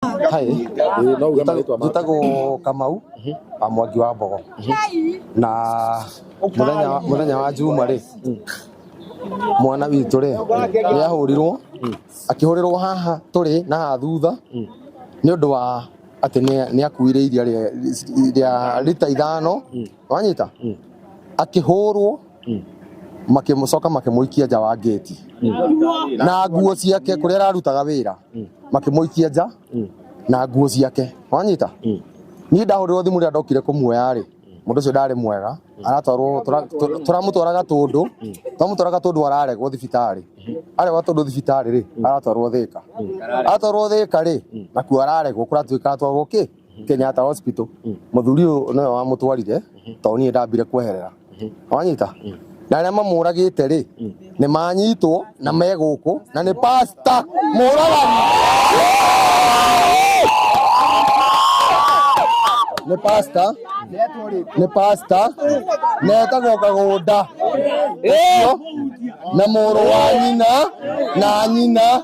Hi, no uge marĩtwa maku njĩtagwo kamau wa mwangi wa mbogo na mũthenya mũthenya wa njuma rĩ mwana witũ rĩ nĩ ahũrirwo akĩhũrĩrwo haha tũrĩ na haha thutha nĩ ũndũ wa atĩ nĩ- nĩ akuire iria rĩa- rĩa rita ithano wanyita Mm. akĩhũrwo Mm. makĩmũcoka makĩmũikia nja wa ngĩti na nguo ciake kũrĩa ararutaga wĩra Mm. makĩmũikia nja Mm. na nguo ciake wanyita Mm. niĩ ndahũrĩrwo thimũ rĩrĩa ndokire kũmuoya-rĩ mũndũ ũcio ndarĩ mwega aratwarwo tũra- tũ- tũramũtwara gatũndũ tũramũtwara gatũndũ araregwo thibitarĩ aregwo gatũndũ thibitarĩ-rĩ aratwarwo thĩka aratwarwo thĩka-rĩ nakuo araregwo kũratuĩka aratwarwo kĩ Kenyatta Hospital muthuri uyu niwe wamutwarire to nie ndambire kweherera wanyita na aria mamuragite ri ni manyitwo na me guku na ni pasta muragani ni pasta ni pasta netagwo kagunda Ũcio, na mũrũ wa nyina na nyina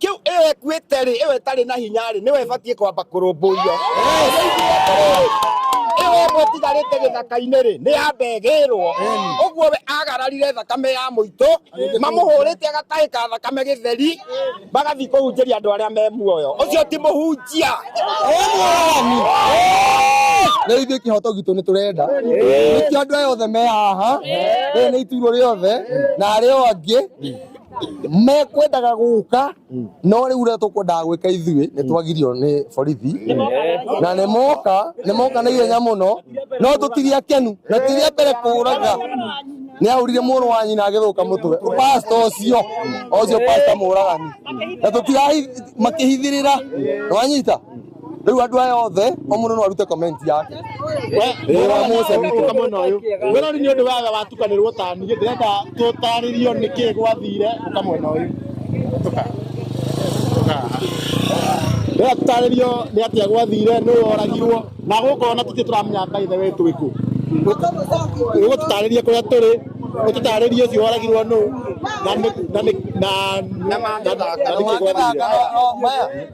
Kĩu ĩyo ĩkuĩte-rĩ, ĩyo ĩtarĩ na hinya-rĩ, nĩyo ĩbatiĩ kwamba kũrũmbũiyo. Nĩnjiguĩte atĩrĩ, ĩyo ĩmwe ĩtigarĩte gĩthaka-inĩ-rĩ, nĩyamba ĩgĩĩrwo. Ũguo we aagararire thakame ya mũitũ, mamũhũrĩte agatahĩka thakame gĩtheri, magathiĩ kũhunjĩria andũ arĩa me muoyo. Ũcio ti mũhunjia. Rĩu ithuĩ kĩhoto gitũ nĩ tũrenda nĩkĩo andũ aya othe me haha rĩrĩ nĩ ituurwo rĩothe na arĩa o angĩ mekwendaga gũka no rĩu ũrĩa tũkwendaga gwĩka ithuĩ nĩ twagirio nĩ borithi na nĩ moka nĩ moka na ihenya mũno no tũtiria kenu na tiria mbere kũraga nĩ ahũrire mũrũ wa nyina agĩthũka mũtwe pasta ũcio ũcio pasta mũragani na tũtirahi makĩhithĩrĩra nĩwanyita Rĩu andũ aya othe o mũndũ no arute comment yake. Wĩra wa Musa witũ. Kamwena ũyũ. Wĩra nĩ ũndũ waga watukanĩrwo ta niĩ ndĩrenda tũtarĩrio nĩkĩ gwathire kamwena ũyũ. Tuka. Tuka. Rĩrĩa tũtarĩrio nĩ atĩa gwathire nũ woragirwo na gũkũ ona tũtirĩ tũramenya by the way twĩ kũ. Ũguo tũtarĩrie kũrĩa tũrĩ ũtũtarĩrie ũcio woragirwo nũ na nĩ- na nĩ- na na- na- na nĩkĩ gwathire. Maya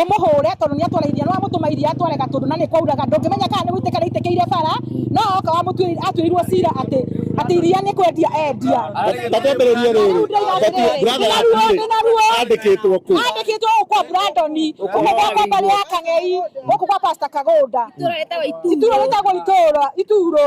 ũmũhũre tondũ nĩ atwara iria nĩwamũtũma iria atware gatũndũ na nĩ kwauraga ndũngĩmenya kana nĩ gũitĩka rĩitĩkĩire bara no oka wamũtuĩrĩire atuĩirwo cira atĩ atĩ iria nĩ kwendia endia ta twambĩrĩrie rĩrĩ bati brother yakuĩ andĩkĩtwo kũ andĩkĩtwo gũkũ kwa Brandoni gũkũ gwa kwa mbarĩ ya Kang'ei gũkũ kwa Pastor Kagũnda ituro rĩtagwo itũũra ituro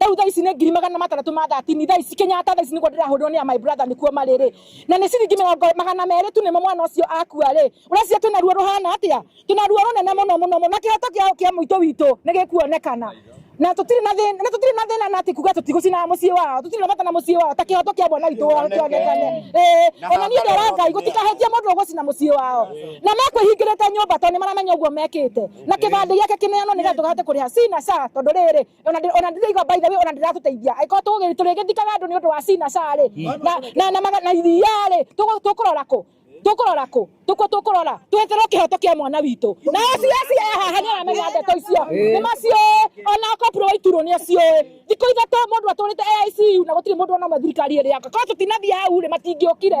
Rĩu thaa ici nĩ ngiri magana matandatũ ma thatini thaa ici Kenyatta thaa ici nĩguo ndĩrahũrĩrwo nĩ ya my brother nĩkuo marĩ rĩ na nĩ ciringi mĩrongo magana merĩ tu nĩmo mwana ũcio akua rĩ ũreciria twĩna ruo rũhana atĩa twĩna ruo rũnene mũno mũno mũno na kĩhoto kĩa kĩa mũitũ witũ nĩ gĩkuonekana na tũtirĩ na thĩna na tũtirĩ na thĩna na atĩ kuga tũtigũcinaga mũciĩ wao tũtirĩ na bata na mũciĩ wao ta kĩhoto kĩa mwana witũ wao kĩonekane ĩĩ ona niĩ ndera ngai gũtikahĩtie mũndũ ũgũcina mũciĩ wao na mekwĩhingĩrĩte nyũmba tondũ nĩ maramenya ũguo mekĩte na kĩbandĩ gĩake kĩneanwo nĩgetha tũkahote kũrĩha sina saa tondũ rĩrĩ ona ndi- ona ndiraigua by the way ona ndiratuteithia angĩkorwo tũgũgĩ- tũrĩgĩthikaga andũ nĩ ũndũ wa cinaca rĩ na- na- na maga- na iria rĩ tũgũ- tũkũrora kũ tũkũrora kũ tũkũ tũkũrora tweterwo kĩhoto kĩa mwana witũ na cs ehaha nĩ aramenya ndeto icio nĩ maciũĩ ona kopro waiturwo nĩ aciũĩ thikũ ithatũ mũndũ atũrĩte AICU na gũtirĩ mũndũ ona ũmwe thirikari ĩrĩaka korwo tũtinathiĩ hau rĩ matingĩũkire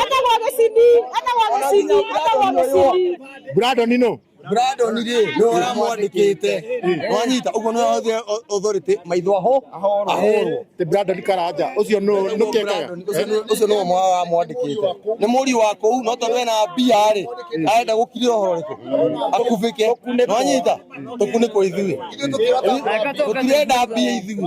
Etagwo gĩcindi, etagwo gĩcindi, etagwo gĩcindi. Brandon no. Brandon rĩ nĩ ũramwandĩkĩte wanyita ũguo nĩ hothe authority maitho aho ahorwo ti Brandon Karanja ũcio no no kekaga ũcio no mwa wamwandĩkĩte nĩ mũri wa kũu no tondũ ena mbia rĩ arenda gũkirĩra ũhoro rĩkũ akubĩke wanyita tũkunĩkwo ithuĩ tũtirenda mbia ithuĩ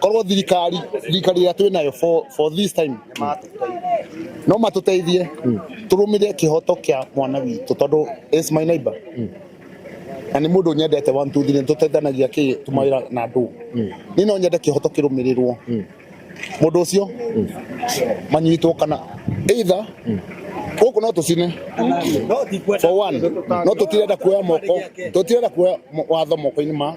korwo thirikari thirikari ĩrĩa twĩ nayo for, for this time no matũteithie tũrũmĩrĩre kĩhoto kĩa mwana witũ tondũ is my neighbor na nĩ mũndũ nyendete one two three tũteithanagia kĩ tũmawĩra na ndũ niĩ no nyende kĩhoto kĩrũmĩrĩrwo mũndũ ũcio manyitwo kana either gũkũ no tũcine for one no tũtirenda kuoya moko tũtirenda kuoya mo- watho moko-inĩ ma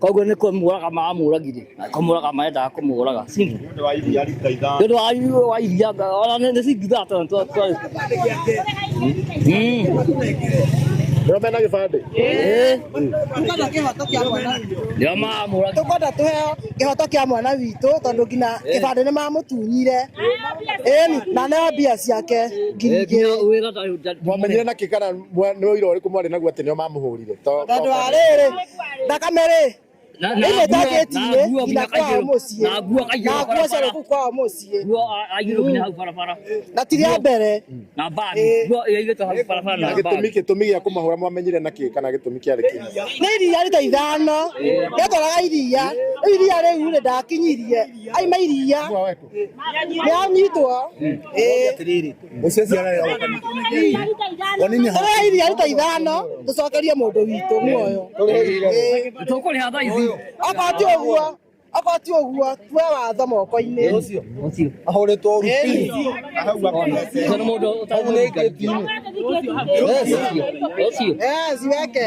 koguo nä kå muraga mamuragire kå muraga marendaga kå må raga nä å ndå wa iria rita ithano nä å ndå wa iria wa iria ona nä cingithaa tondå twa- twa- Mm. Ndio mena kibande. Eh, Tũkwenda kĩhoto kĩa mwana witũ. ndio mamuraga Tũkwenda tũheo kĩhoto kĩa mwana witũ tondũ nginya kĩbandĩ nĩ mamũtunyire ĩni na neo mbia ciake ngiri igĩrĩ wä ra Twamenyire na kikana Mwa- nĩ ũira ũrĩkũ mwarĩ naguo atĩ nĩo mamũhũrire To- tondũ to- wa rĩrĩ thakame rĩ Na- na ĩno nguo- na njakĩti-inĩ nguo nginya nginya kwao kaigĩrwo- mũciĩ na nguo kaigĩrwo na nguo barabara. ciarĩ kũu kwao mũciĩ Nguo a- aigĩrwo nginya hau barabara na ti rĩa mbere na mbagi Eh. nguo ĩigĩtwo hau barabara na na gĩtũmi mbagi gĩtũmi gĩa kũmahũra mwamenyire na kĩ kana gĩtũmi kĩarĩ kĩ nĩ iria rita ithano rĩatwaraga iria rĩu iria rĩu rĩ ndakinyirie aima iria nĩanyitwo tũrehe iria rita ithano tũcokerie mũndũ witũ muoyo tũkũrĩha thaa ici okorwo ti ũguo okorwo ti ũguo tue watho moko-inĩ ahũrĩtwo ruti weke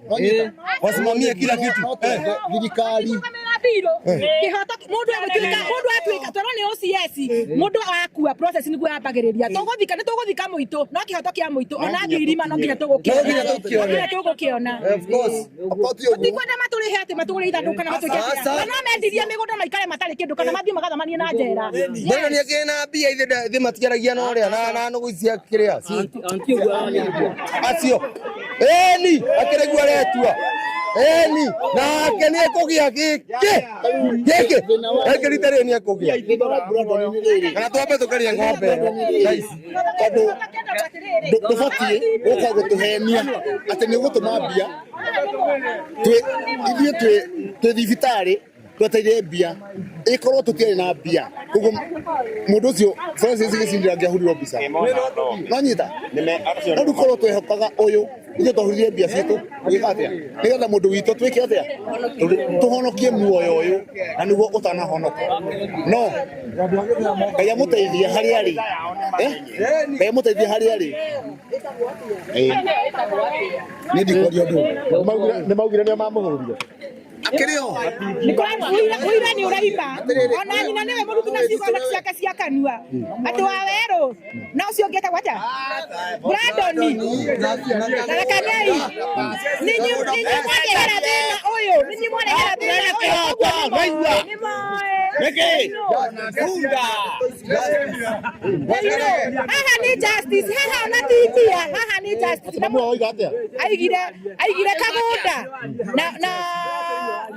eh, wasimamie kila kitu eh. thirikari kihotaki mundu egwikirika mundu atuika toro ni OCS mundu akua process niguo yambagiriria tuguthika ni tuguthika muitu no kihoto kia muitu ona ngirima no nginya tugukiona tugukiona tikwenda maturihe ati matugure ithandu kana matuike no mendirie migunda na ikare matari kindu kana mathie magathamanie na njera mbona ni akina mbia ithe thi matigaragia no ria na na nugucia kiria acio eni akĩrĩgua retua eni nake nĩ ekũgĩa gĩkĩ gĩkĩ gĩkĩ rita rĩrĩ nĩ ekũgĩa kana twambe tũkaria ng'ombe ĩyo ici tondũ ndũbatiĩ gũka gũtũhenia atĩ nĩ ũgũtũma mbia ithuĩ twĩ thibitarĩ tweteire mbia ikorwo tutiari na mbia koguo mundu ucio Francis gicindira ngiahurirwo mbica nonyita no riu korwo twehokaga uyu ithuĩ twahurire mbia citũ gwĩka atĩa nĩgetha mũndũ witũ twĩke atĩa tũhonokie muoyo ũyũ na nĩguo ũtanahonoka no ngai amũteithie harĩa arĩ eh? ngai amũteithie harĩa arĩ nĩ ndikwaria ũndũ nĩ maugire nĩ mamũhũrire akĩrĩ o ũira nĩ ũraima ona nyina nĩwe mũruti na ciugo na ciake cia kanua andũ a werũ na ũcio ũngĩ etagwo atĩa brandoni narekanei ninyi mwarehera thĩna ũyũ ninyi mwarehera thĩna ũyũ Niki, Bunda. Haha ni justice, haha ona titia, haha ni justice. Aigire, aigire kagunda. na na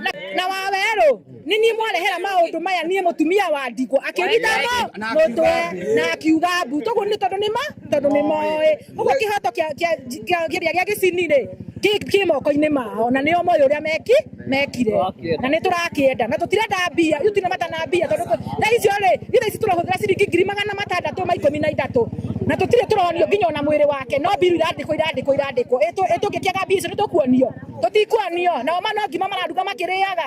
na, na wawerũ nĩ niĩ mwarehera maũndũ maya niĩ mũtumia wa ndikũ akĩnyita mo- mũtwe na akiuga mbu toguo nĩ tondũ nĩ ma tondũ nĩ moĩ ũguo kĩhoto kĩa- kĩa- kĩa- kĩrĩa gĩa gĩcini-rĩ kĩ- kĩ moko-inĩ mao na nĩo moĩ ũrĩa meki mekire na nĩ tũrakĩenda na tũtirenda mbia ithuĩ tũtirĩ mata na mbia tondũ tũ- thaa icio-rĩ ithaa ici tũrahũthĩra ciringi ngiri magana matandatũ ma ikũmi na ithatũ na tũtirĩ tũronio nginya ona mwĩrĩ wake no mbiru irandĩkwo irandĩkwo irandĩkwo Ĩtũ- ĩtũngĩkĩaga mbiru icio nĩtũkuonio tũtikuonio nao mano ngima mararuga makĩrĩaga